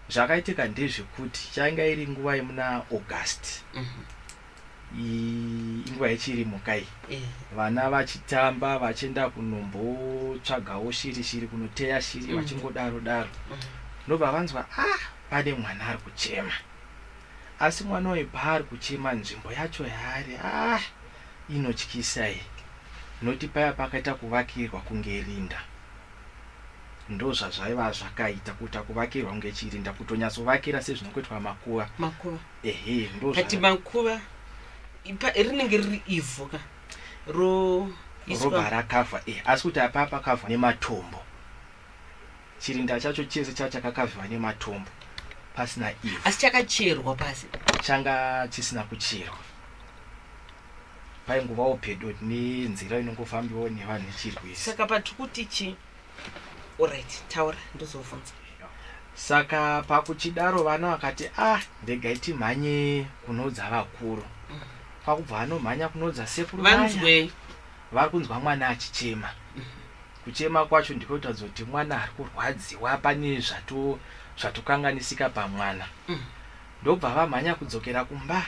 zvakaitika ndezvekuti changa iri nguva yemuna august mhm. inguva yechiri mukai eh. vana vachitamba vachienda kunombotsvagawo shiri shiri kunoteya shiri mhm. vachingodaro daro mhm. ndobva vanzwa a ah, pane mwana ari kuchema asi mwana uyu paari kuchema nzvimbo yacho yaari a ah, Inotyisa iyi not paya pakaita kuvakirwa kunge rinda ndozvazvaiva zvakaita kuita kuvakirwa kunge chirinda kutonyatsovakira sezvinongoitwa makuva makuva ehe ndozvati makuva rinenge riri ivhu ka ro roba rakavha e eh, asi kuti apaa pakavha nematombo Chirinda chacho chese changa chakakavhiwa nematombo pasina ivhu. Asi chakacherwa pasi? Changa chisina kucherwa. Paingovawo pedo nenzira inongofambiwawo nevanhu ichirwisa. Saka patiri kuti chii? Alright, taura ndozovhunza. Saka pakuchidaro vana vakati ah ndegai timhanye kunoudza vakuru. Mm. Kwakubva vanomhanya kunoudza sekuru vaya. Vanzwei? Vari kunzwa mwana achichema. Kuchema kwacho ndiko kutoratidza kuti mwana ari kurwadziwa pane zvato zvatokanganisika pamwana. Ndobva vamhanya kudzokera kumba.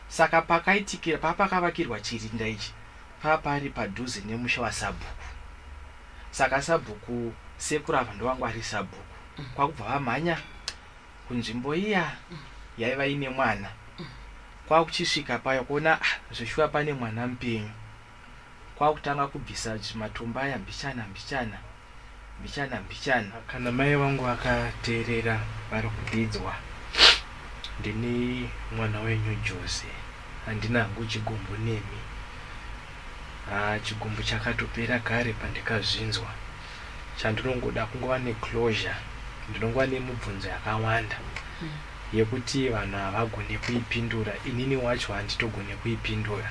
Saka pakaitikira papakavakirwa chirinda ichi papari padhuze nemusha wasabhuku. Saka sabhuku sekuru ava ndovangwari sabhuku. Kwakubva vamhanya kunzvimbo iya yaiva ine mwana. Kwakuchisvika paya kuona ah zveshuwa pane mwana mupenyu. kwakutanga kubvisa zvimatombo aya mbichana mbichana mbichana mbichana. Kana mai vangu vakateerera vari kudidzwa, ndini mwana wenyu Joze, handina hangu chigumbu nemi. Haa chigumbu chakatopera kare pandikazvinzwa. Chandinongoda kungova neclosure, ndinongova nemubvunzo yakawanda yekuti vanhu havagone kuipindura, inini wacho handitogone kuipindura.